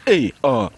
Hey, oh.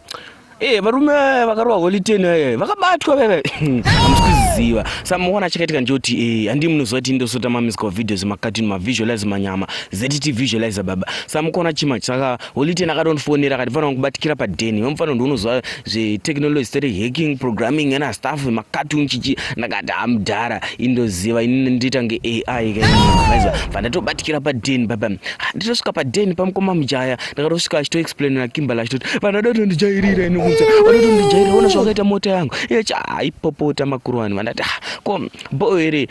Hey, varume vakarowa holy ten eh, vakabatwa veve hamusi kuziziva samuona chakaitika njoti eh, handi munoziva ti ndosota mamisika videos makatini mavisualize manyama ztt visualize baba samukuona chima saka holy ten akadondifonera akati fanira kubatikira padeni vamufana ndiunoziva zvetechnology tiri hacking programming ana staff makatuni chichi ndakati hamudhara indoziva inini ndoita nge ai kaiva ndatobatikira padeni baba nditosvika padeni pamukoma mujaya ndakatosvika achitoexplainira kimberly achitoti vanhu vada kutondijairira ini kunze vada kutondijairira ona zvawakaita mota yangu iye cha aipopota makuruwani vandati ah, ko boo here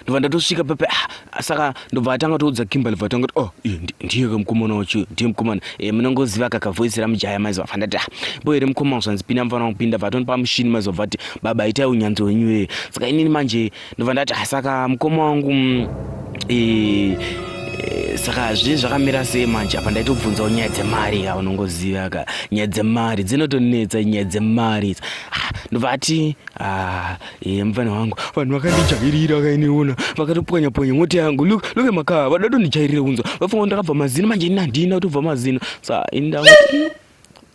ndobva ndatosvika pepe ah, saka ndobva atanga toudza kimberly bva atanga oh ndiye kamukomana wacho ndiye mukomana e, munongoziva kakavoisi ramujaya maiziva fa ndati ah, bo here mukomana zvanzi pinda mufana kupinda bva atonipa mushini maiziva bva ati baba itai unyanzi wenyu wee saka inini manje ndobva ndati ah, saka mukoma wangu mm, eh, eh, saka zvinhu zvakamira sei manje apa ndaitobvunzawo nyaya dzemari ka unongoziva ka nyaya dzemari dzinotonetsa nyaya dzemari ah, ndobva ati ah, eh, mufana wangu vanhu vakandijairira kainiona vakatopwanya pwanya moti yangu luke makaa vadatondijairira kunzwa vafunga kuti ndakabva mazino manje ini handina kutobva mazino sa ini ndanga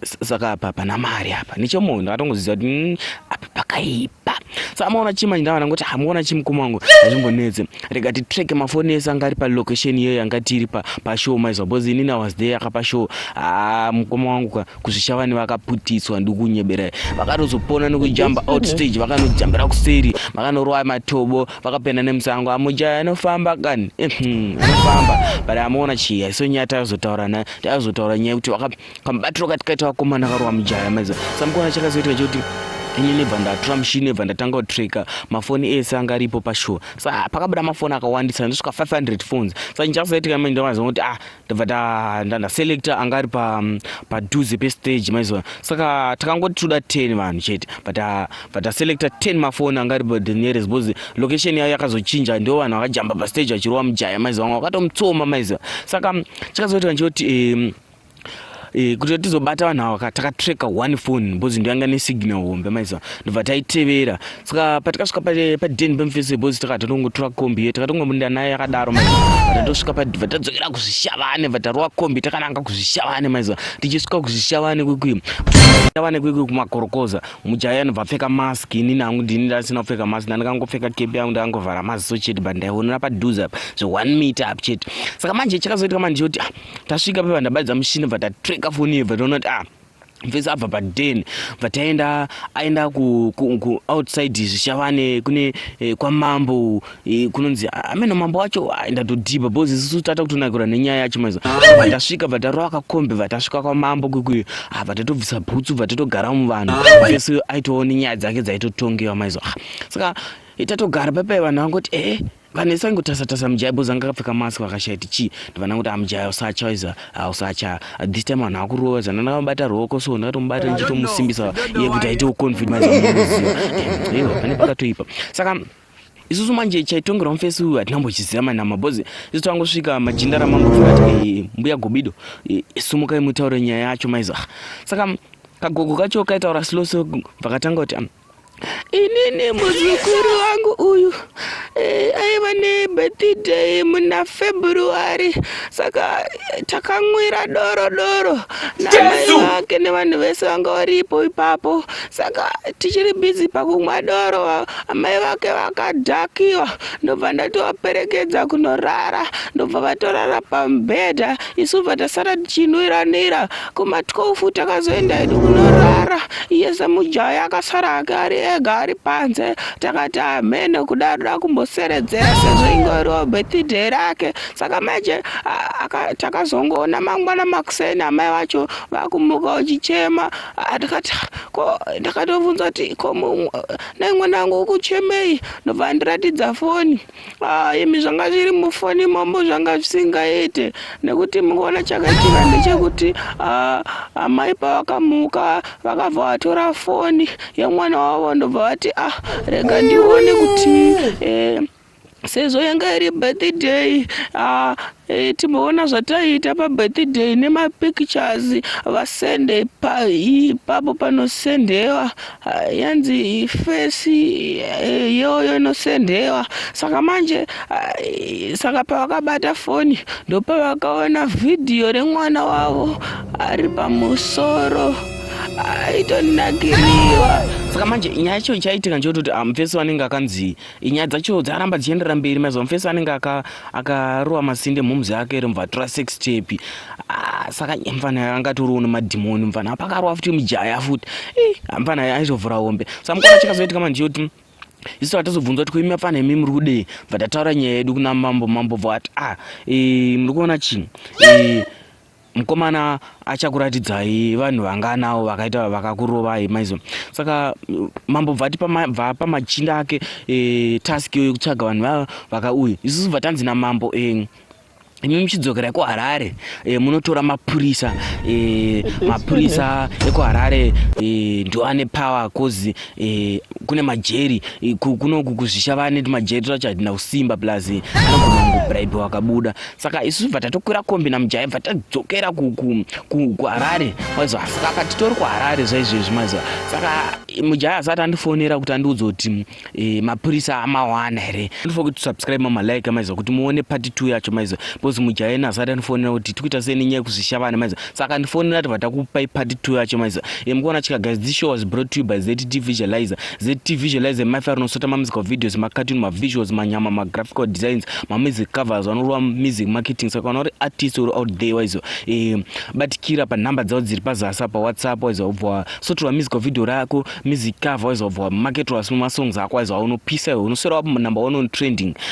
saka apa hapana mari apa nechemoyo ndakatongoziva kuti mm, apa pakaipa sa amaona chii manje ndavana ngoti hamuona chii mukoma wangu hazvimbonetse rega titreke mafoni ese anga ari palocation iyoyo yanga tiri pashow maiziva bcause inini was there aka pashow haa ah, mukoma wangu ka kuzvishavani vakaputiswa ndikunyeberai vakatozopona nekujamba outstage vakanojambira kuseri vakanorowa matobo vakapinda nemusango amujaya anofamba kani uhm, anofamba but amuona chii aisonyaya taazotaura naye taazotaura nyaya yekuti kamubatiro katikaita vakomana karowa mujaya maiza samukuona chakazoitika chekuti ini nebva ndatora mushini nebva ndatanga kutreka mafoni ese anga aripo pashuwa sa pakabuda mafoni akawandisa ndosvika 500 phones sa ndichasaitika manje ndamazonoti ah tobva tandaselecta anga ari padhuze pestage maiziva saka takangoti toda ten vanhu chete but ah, taselecta ten mafoni anga ari the nearest because location yayo yakazochinja ndo vanhu vakajamba pastage vachirova mujaya maiziva vanga vakatomutsoma maiziva saka chakazoitika nchekuti um, Eh, kuti tizobata vanhu ava takatreka one phone bcoz ndoyanga nesignal hombe maiziva ndobva taitevera saka patakasvika padeni pemufese bcoz takatotongotora kombi iyo takatongomunda naye yakadaro maizivatandosvika padiva tadzokera kuzvishavane vatarova kombi takananga kuzvishavane maiziva tichisvika kuzvishavane kwekwi shavane kwekwi kumakorokoza mujaya anobva apfeka mask ini nangu ndini ndasina kupfeka mask ndandikangopfeka kepi yangu ndakangovhara maziso chete but ndaionera padhuze apa zve one meter up chete saka manje chakazoitika manje choti ah, tasvika peva ndabaidza mushini bva tatreka foni iyo bva taona kuti ah mfesi abva paden bva taenda aenda kuoutside zvishavane kune eh, kwamambo eh, kunonzi ameno ah, mambo wacho ah, ndatodhiba bcause isusu tata kutonakura nenyaya yacho maizo bva tasvika bva tarova kakombe bva tasvika kwamambo kwikuyo ah, bva tatobvisa bhutsu bva tatogara muvanhu mfesi aitoone nyaya dzake dzaitotongewa maizo saka itatogara papai vanhu vangoti ee eh, Vanetsa ingotasa tasa mujaya bozi anga akapfeka mask vakashaya kuti chii ndivana kuti amujaya ah, usacha iza ah, usacha ah, this time vanhu vakurova zana ndakamubata ruoko so ndakatomubata ndichitomusimbisa iye kuti aite uconfid maizamuziva pane pakatoipa saka isusu manje chaitongerwa mufesi uyu hatinambochiziva manama bhozi isu tangosvika majinda ramambo tikati eh, mbuya gobido eh, sumukai mutaure nyaya yacho maiza saka kagogo kacho kaitaura slow so vakatanga kuti Inini muzukuru wangu uyu eh, aiva nebirthday muna February saka takamwira doro doro namai vake nevanhu vese vanga varipo ipapo saka tichiri busy pakumwa doro amai vake vakadhakiwa ndobva ndatovaperekedza kunorara ndobva vatorara pamubhedha isu bva tasara tichinwiranira kuma 12 takazoenda hedu kunorara yeza mujaya akasara hake ari ega ari panze takati hamene kuda roda kumboseredzera sezvo ingoriwo birthday rake saka manje takazongoona mangwana makuseni amai vacho vakumuka uchichema ndikati ko ndakatovunza kuti ko nei mwana wangu ukuchemei ndobva ndiratidza foni Ah, imi zvanga zviri mufoni imomo zvanga zvisingaite nekuti mukaona chakaitika ndechekuti ah, amai pavakamuka vakabva vatora foni yemwana wavo ndobva vati ah rega ndione kuti eh, sezvo yanga iri birthday ah, Eh, timboona zvataiita pabirthday nemapictures vasende ipapo panosendewa ah, yanzi fesi eh, yoyo inosendewa saka manje ah, saka pavakabata foni ndopavakaona vhidhiyo remwana wavo ari pamusoro aitonakiriwa saka manje nyaya yacho ichaitika njokuti kuti amufesi ah, vanenge akanzi Nyaya dzacho dzaramba dzichienderera mberi mazuva mufesi anenge akarova masinde mhomz yake iri mvatura sex tape ah, saka mfana angatoriwo nemadhimoni mfana pakarova futi mujaya futi mfana aizovhura hombe sa mukona chakazoitika mandiyo kuti isu vatazobvunza kuti kuimya pfana imi muri kudei bva tataura nyaya yedu kuna mambo mambo bva vati ah eh, muri kuona chii eh, mukomana achakuratidzai vanhu vanganawo vakaita vakakurovai maizo saka mambo bva vapa machinda ake e, task yo yekutsvaga vanhu vava vakauya isusu bva tanzi namambo e, imi muchidzokera ekuharare e, munotora mapurisa e, mapurisa ekuharare e, ndo ane power cause e, kune majeri e, kunoku kuzvisha vane majeri totaura kuti hatina kusimba plus anogona kungobraibe wakabuda saka isu zvibva tatokwira kombi namujaya bva tadzokera kuharare maiziva saka titori kuharare zvaizvezvi maiziva saka mujaya asati andifonera kuti andiudza kuti eh, mapurisa amawana here andifa kuti subscribe mamalike maiziva kuti muone pati two yacho maiziva because mujaya ino asati andifonera kuti tikuita sei nenyaya yekuzvishavana maiziva saka ndifonera tibva takupai party two yacho maiziva ye mukuona chika guys this show was brought to you by ztt visualizer ztt visualizer mafia rinosota mamusical videos macartoon mavisuals manyama magraphical designs mamusic covers vanorova music marketing saka kana uri artist uri out there waiziva e, eh, batikira panhamba dzavo dziri pazasi apa whatsapp waiziva ubva sotirwa musical video rako music cover waiziva ubva maketirwa suma songs ako waiziva unopisa iwe unoswera wapo number one on trending